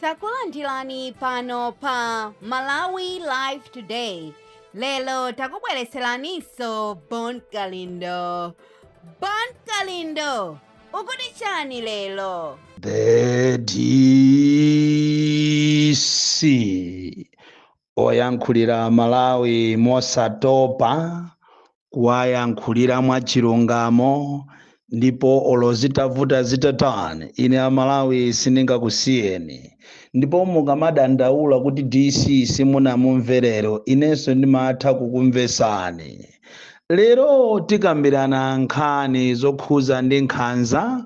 takulandirani pano pa malawi live today lero takubweretseraniso bon kalindo bon kalindo ukuti chani lero The DC oyankhulira Malawi mosatopa kuwayankhulira mwachilungamo ndipo olo zitavuta zitatani ine Amalawi sindingakusiyeni ndipo mukamadandaula kuti DC simunamumvere lero inenso ndimatha kukumvesani lero tikambirana nkhani zokhuza ndi nkhanza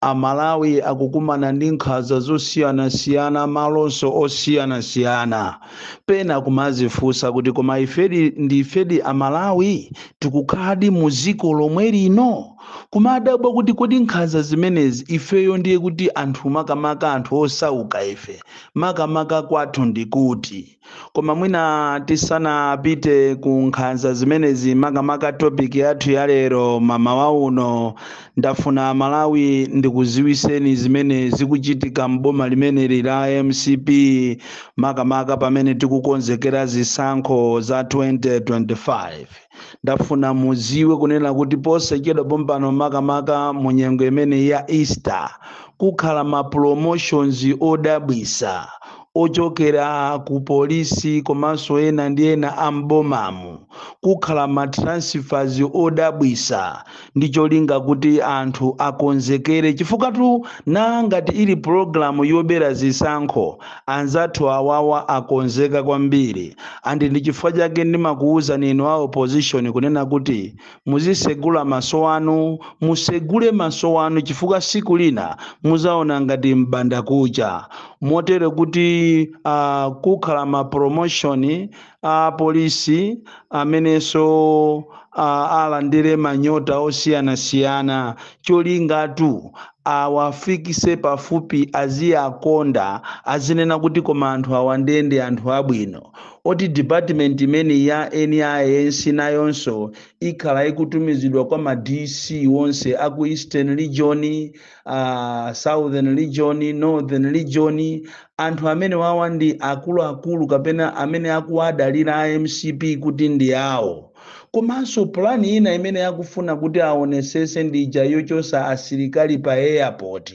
Amalawi akukumana ndi nkhaza zosiyanasiyana m'malo monse osiyanasiyana. Pena kumazifunsa kuti koma ifedi ndi ifedi amalawi? Tikukhaladi mu ziko lomwe lino? Kumadabwa kuti kodi nkhaza zimenezi ifeyo ndiye kuti anthu makamaka anthu osauka ife makamaka kwathu ndikuti? koma mwina tisanapite ku nkhanza zimenezi makamaka topic yathu ya lero m'mawa uno ndafuna malawi ndikuziwiseni zimene zikuchitika m'boma limeneli la mcp makamaka pamene tikukonzekera zisankho za 2025 ndafuna muziwe kunena kuti posachedwa pompano makamaka mu nyengo imeneyi ya easter kukhala ma promotions odabwisa ochokera ku polisi komanso ena ndi ena am'bomamu kukhala ma transfers odabwisa ndi cholinga kuti anthu akonzekere chifukwatu ngati ili pulogalamu yobera zisankho anzathu awawa akonzeka kwambiri and ndi chifukwa chake ndimakuwuzani inu a opposition kunena kuti muzisegula maso anu musegule maso anu chifukwa siku lina muzaona ngati m'bandakucha motero kuti uh, kukhala ma promotion a polisi amenenso a- alandire manyota osiyanasiyana cholingatu awafikise pafupi aziyakonda azinena kuti koma anthu awa ndiye ndi anthu abwino oti department imeneyi ya NIS nayonso ikhala ikutumizidwa kwa ma DC onse aku Eastern Region uh, southern region northern region anthu amene wawa ndi akuluakulu kapena amene akuwadalira a mcp kuti ndi awo komanso pulani ina imene akufuna kuti aonesese ndi ija yochosa asilikali pa airport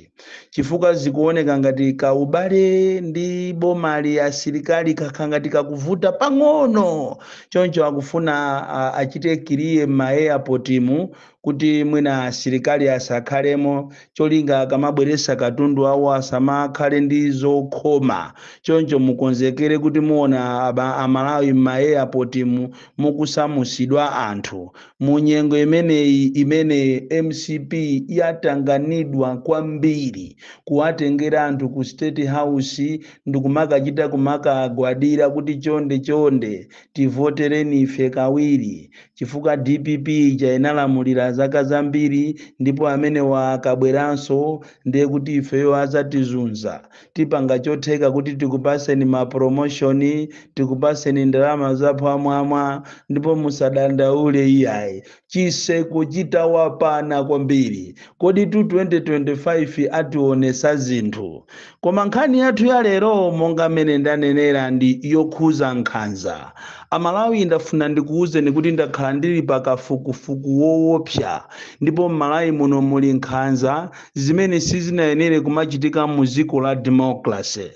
chifukwa zikuoneka ngati kaubale ndi bomali asilikali kakhala ngati kakuvuta pang'ono choncho akufuna uh, achite clear m'ma airportmu kuti mwina asilikali asakhalemo cholinga akamabweretsa katundu wawo asamakhale ndi zokhoma choncho mukonzekere kuti muona amalawi m'maeyapotimu mukusamusidwa anthu mu nyengo imeneyi imene mcp yatanganidwa kwambiri kuwatengera anthu ku state house ndikumakachita kumakagwadira kuti chonde chonde tivotereni ife kawiri chifukwa dpp ija inalamulira zaka zambiri ndipo amenewa akabweranso ndiye kuti ifeyo azatizunza tipanga chotheka kuti tikupaseni ma promotion tikupaseni ndalama zaphwamwamwa ndipo musadandaule iyayi chiseko chitawapana kwambiri kodi 2025 ationesa zinthu Koma nkhani yathu ya lero monga mmene ndanenera ndi yokhuza nkhanza. A Malawi ndafuna ndikuuzeni kuti ndakhala ndili pa kafukufuku woopsa ndipo m'Malawi muno muli nkhanza zimene sizinayenere kumachitika mu ziko la democracy.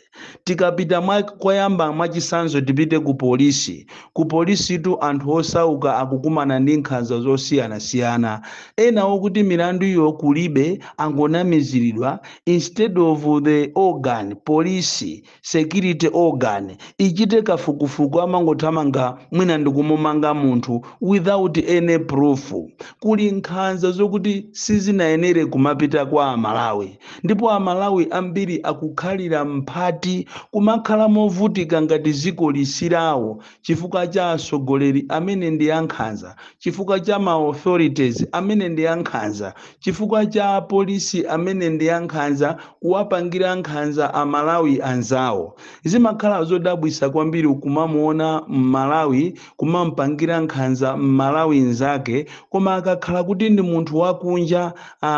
Tikapita mwa koyamba mwachisanzo tipite ku polisi. Ku polisitu anthu osauka akukumana ndi nkhanza zosiyanasiyana. Ena okuti milanduyo kulibe angonamiziridwa instead of the organ, police, security organ, ichite kafukufuku amangothamanga mwina ndikumumanga munthu without any proof. Kuli nkhanza zokuti sizinayenere kumapita kwa a Malawi ndipo a Malawi ambiri akukhalira mphati kumakhala movutika ngati ziko lisilawo chifukwa cha atsogoleri amene ndi ankhanza, chifukwa cha ma authorities amene ndi ankhanza, chifukwa cha apolisi amene ndi ankhanza, kuwapangira nkhanza a Malawi anzawo. Zimakhala zodabwitsa kwambiri kumamuona m'Malawi kumampangira nkhanza m'Malawi nzake koma akakhala kuti ndi munthu wakunja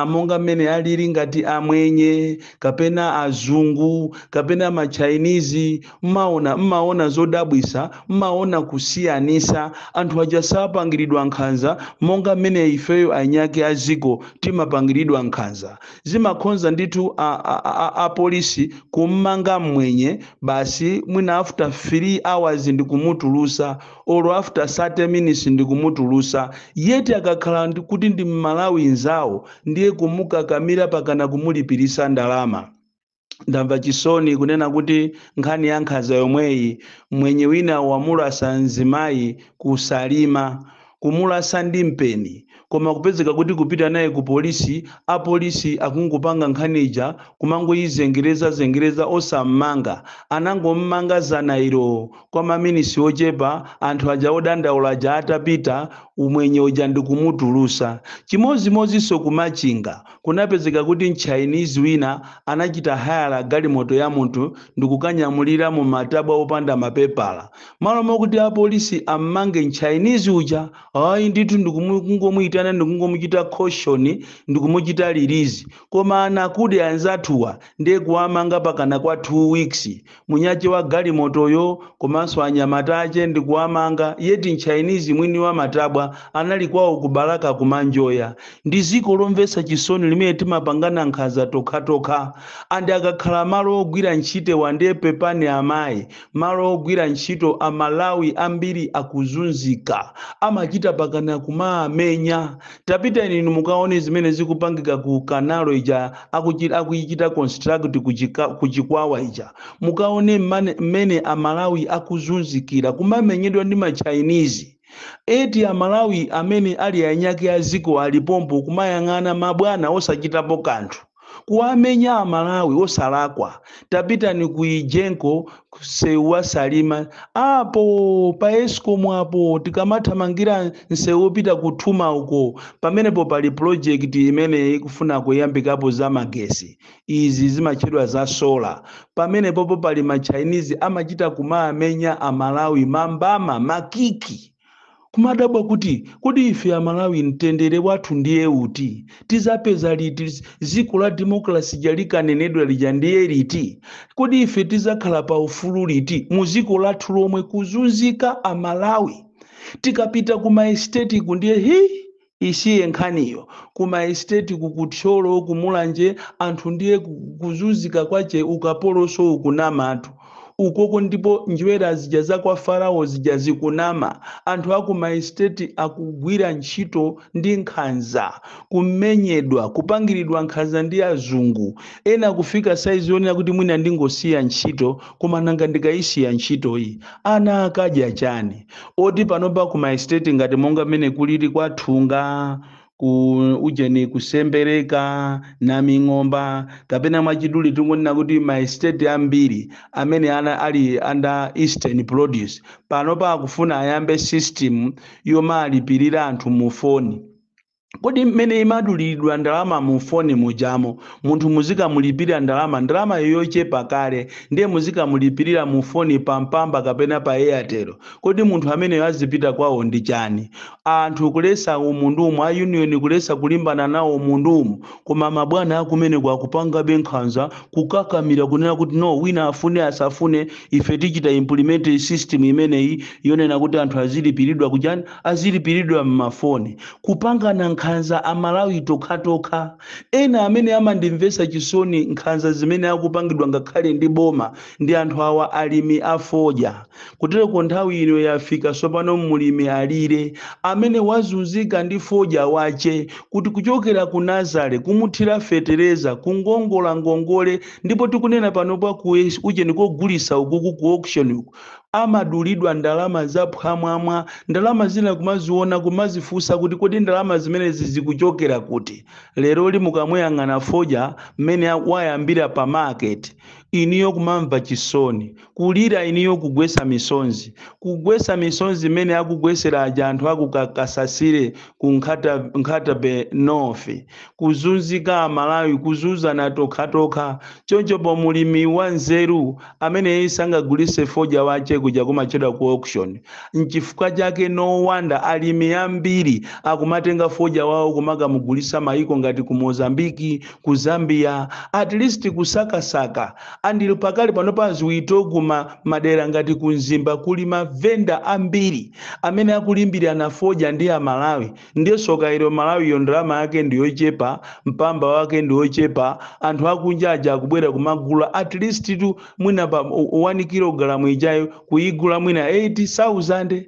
monga mmene alili ngati amwenye kapena azungu kapena ma Chinese, Mmaona, mmaona zodabwitsa, mmaona kusiyanitsa. Anthu aja sapangiridwa nkhanza monga mmene ifeyo eniake a dziko timapangiridwa nkhanza. Zimakhonza ndithu a, a, a, a, apolisi kummanga mmwenye basi mwina after 3 hours ndikumutulutsa or after 30 minutes ndikumutulutsa yet akakhala ndi, kuti ndi mMalawi nzawo ndiye kumukakamira pakana kumulipiritsa ndalama. ndamva chisoni kunena kuti nkhani ya nkhanza yomweyi mmwenye wina wamulasa mzimayi ku Salima kumulasa ndi mpeni koma kupezeka kuti kupita naye ku polisi apolisi akungopanga nkhani ija kumangoyizengereza zengereza osammanga anangommanga zanailo kwa maminisi ochepa anthu aja odandaula aja atapita mmwenye uja ndikumutulusa chimozimozinso ku Machinga Kunapezeka kuti m'Chinese wina anachita hire galimoto ya munthu ndikukanyamuliramo matabwa opanda mapepala. Malo mokuti apolisi ammange m'Chinese uja, ayi ndithu ndikumu kungomuyitana ndikungomuchita caution ndikumuchita release. Koma anakude anzathuwa nde kuwamanga pakana kwa 2 weeks. Mwini wache wa galimotoyo komanso anyamata ache ndikuwamanga yet mChinese mwini wa matabwa anali kwao kubalaka kumanjoya. Ndi dziko lomvetsa chisoni limene timapangana nkhanza tokhatokha. And akakhala malo ogwira ntchitewa nde pepani amai malo ogwira ntchito amalawi ambiri akuzunzika amachita mpakana kumaamenya. Tapitani inu mukaone zimene zikupangika ku canal ija akuichita construct ku Chikwawa ija mukaone mmene a Malawi akuzunzikira kumamenyedwa ndi ma Chinese yet a Malawi amene ali eniake a dziko ali pompo kumayang'ana ma bwana osachitapo kanthu. kuwamenya amalawi osalakwa tapitani ku egenco msewu wa salima apo pa escom apo tikamathamangira msewu wopita ku thuma uko pamenepo pali project imene ikufuna kuyambikapo za magesi izi zimatchedwa za sola pamenepopo pali ma chinese amachita kumamenya amalawi mambama makiki kumadabwa kuti kodi ife amalawi mtendere wathu ndiye uti tizapeza liti dziko la democracy lija likanenedwa lija ndiye liti kodi ife tizakhala pa ufulu liti mu dziko lathu lomwe kuzunzika amalawi tikapita ku ma estate uku ndiye hi Isiye nkhaniyo ku ma estate ku ku Thyolo ku Mulanje anthu ndiye kuzuzika kwache ukapolonso ukunamatu uko ndipo njwera zija za kwa Farao zija zikunama anthu aku ma estate akugwira ntchito ndi nkhanza kumenyedwa kupangiridwa nkhanza ndi azungu ena kufika size yonena kuti wina ndingosiya ntchito koma nanga ndikaisiya ntchitoyi ana akadya chani? oti panopa ku ma estate ngati monga mmene kulili kwa thunga ku ujeni kusembereka naming'omba kapena mwachidule tingonena kuti ma estate ambiri amene ali under eastern produce panopa akufuna ayambe system yomalipirira anthu mu foni kodi mmene imaduliridwa ndalama mu foni mujamo munthu muzikamulipirira ndalama ndalamayo yochepa kale ndiye muzikamulipirira mu foni pa mpamba kapena pa airtel kodi munthu ameneyo azipita kwawo ndi chani anthu kuletsa umunthumo a union kuletsa kulimbana nawo umunthumo koma mabwana akumeneko akupangabe nkhanza kukakamira kunena kuti no wina afune asafune ife tichita implement system imeneyi yonena kuti anthu azilipiridwa kuchani azilipiridwa mmafoni Kupangana nkhanza a Malawi tokhatokha, ena amene amandimvesa chisoni nkhanza zimene akupangidwa ngakhale ndi boma ndi anthu awa alimi a fodya. Kuteroko nthawi ino yafika sopano mulimi alire, amene wazunzika ndi fodya wache kuti kuchokera ku nazale, kumuthira fetereza, kukongola ngongole ndipo tikunena panopa ku ujeni kogulisa ukuku ku auction uku. amadulidwa ndalama zaphwamwamwa, ndalama zina kumaziona kumazifunsa kuti kodi ndalama zimenezi zikuchokera kuti? Leroli mukamuyang'ana fodya mmene a- wayambira pa market, inuyo kumamva chisoni, kulira inuyo kugwetsa misonzi, kugwetsa misonzi mmene akugwetsera aja anthu aku Ka- Kasasire ku Nkhata Bay North, kuzunzika Amalawi, kuzunzana tokhatokha. Chonchopo mulimi wanzeru Ameneyi sangagulise fodya wache kuja kumatchedwa ku auction. Nchifukwa chake no wonder alimi ambiri akumatenga fodya wawo kumakamugulisa maiko ngati ku Mozambique, ku Zambia, at least kusakasaka and pakali pano paziwiti kumamadera ngati ku Mzimba kuli ma vendor ambiri amene akulimbiriana fodya ndi a Malawi. ndiye soka ilo mmalawiyo ndalama yake ndiyochepa mpamba wake ndiwochepa anthu akunja aja akubwera kumagula at leasttu mwina pa 1 kilogalamu ijayo kuyigula mwina 8000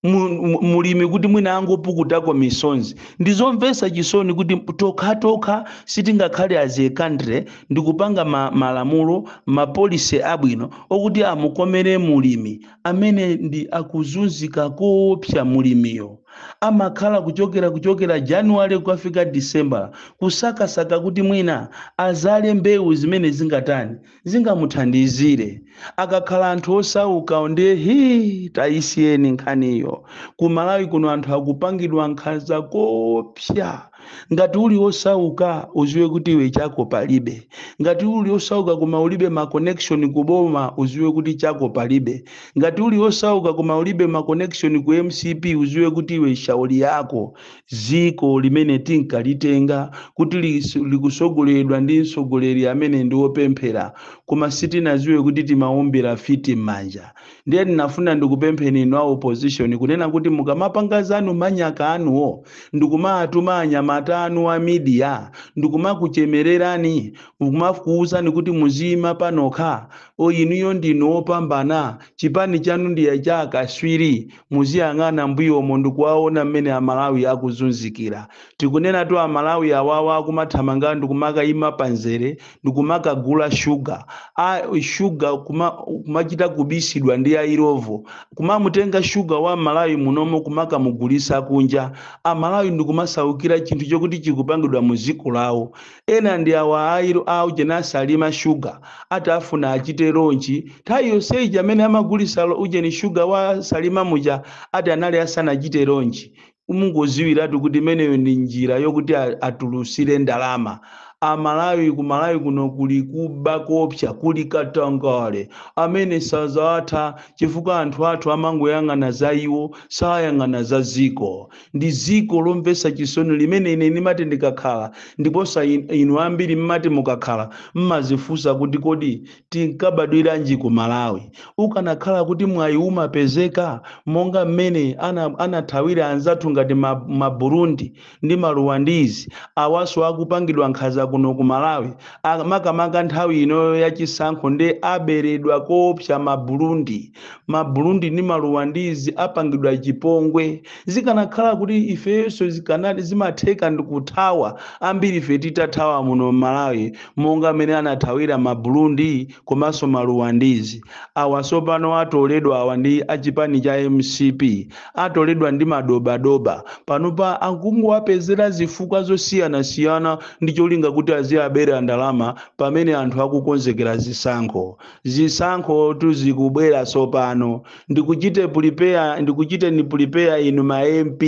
mu- mu- mulimi kuti mwina angopukutako misonzi ndizomvesa chisoni kuti tokhatokha sitingakhale as a country ndikupanga ma, malamulo ma policy abwino okuti amukomere mulimi amenedi akuzunzika koopsa mulimiyo Amakhala kuchokera kuchokera January kukafika December kusakasaka kuti mwina azale mbewu zimene zingatani, zingamuthandizire. Akakhala anthu osaukawo ndiye hii tayisiyeni nkhaniyo. Ku Malawi kuno anthu akupangidwa nkhanza koopsa. ngati uli wosauka uziwe kuti iwe chako palibe ngati uli wosauka koma ulibe ma connection ku boma uziwe kuti chako palibe ngati uli wosauka koma ulibe ma connection ku mcp uziwe kuti iwe shauri yako ziko limene tinkalitenga kuti lis- likusogoleredwa ndi msogoleri amene ndi wopemphera koma sitinaziwe kuti timaombera fiti m'manja ndiye ndinafuna ndikupempheni inu a opposition kunena kuti mukamapanga zanu manyaka anuwo ndikumaatuma anyamata anu a media ndikumakuchemererani kumakuuzani kuti muziyima panokha o inuyo ndinu opambana chipani chanu ndiye cha akaswiri muziyang'ana mbuyomo ndikuwaona mmene amalawi akuzunzikira tikunenatu amalawi awawa akumathamanga ndikumakayima panzere kumakagula shuga a shuga kuma, kumachita kubisidwa ndi airovo kumamutenga shuga wa malawi munomo kumakamugulisa kunja amalawi ndikumasaukira chinthu chokuti chikupangidwa mu dziko lawo ena ndi awa aujeni a salima shuga ati afuna achite lonchi nthawi yonseyi amene amagulisa lo- ujeni shuga wa salima muja ati anali asanachite lonchi mungodziwiratu kuti imeneyo ndi njira yokuti a- atulutsire ndalama amalawi ku malawi kuno kuli kuba koopsa kuli katangale amene sazatha chifukwa anthu athu amangoyang'ana za iwo sayang'ana za dziko ndi dziko lomvetsa chisoni limene ine ndimati ndikakhala ndiponso in- inu ambiri mmati mukakhala mmadzifunsa kuti kodi tinkabadwiranji ku malawi ukanakhala kuti mwayi umapezeka monga mmene ana, anathawira anzathu ngati ma, ma burundi ndi maruwandizi awaso akupangidwa nkhaza kuno ku malawi A- makamaka nthawi inoyo ya chisankho nde aberedwa koopsa ma burundi ma burundi ndi maruwandizi apangidwa chipongwe zikanakhala kuti ifeyoso zikanati zimatheka ndikuthawa ambiri ife titathawa muno m'malawi monga mmene anathawira ma Burundi komanso ma Ruwandizi awa sopano atoledwa awa ndi achipani cha mcp atoledwa ndi madobadoba panopa akungowapezera zifukwa zosiyanasiyana ndi cholinga kuti aziwabera ndalama pamene anthu akukonzekera zisankho zisankhotu zikubwera sopano ndikuchite pulipeya ndikuchiteni pulipeya inu ma mp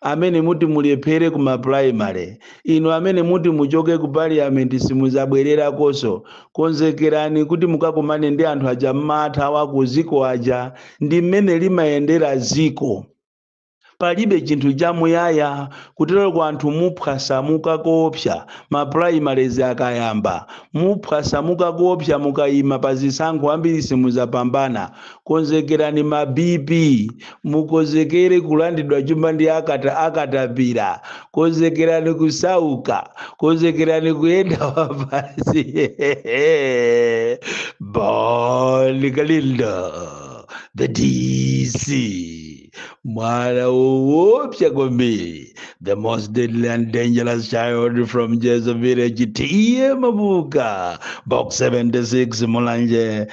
amene muti mulephere ku maprimary inu amene muti muchoke ku parliament simuzabwererakonso konzekerani kuti mukakumane ndi anthu aja mmathawa kudziko aja ndi mmene limayendera dziko palibe chinthu chamuyaya kuteroko anthu muphwasamuka koopsa maprimaries akayamba muphwasamuka koopsa mukayima pa zisankho ambiri simuzapambana konzekerani ma BP Mukonzekere kulandidwa chuma ndi akata akatapira. Konzekerani kusauka. Konzekerani kuyenda wapansi. Bon Kalindo, the DC. Mwana woopsa kwambiri. The most deadly and dangerous child from Njeza village. TA Mabuka. Box 76 Mulanje.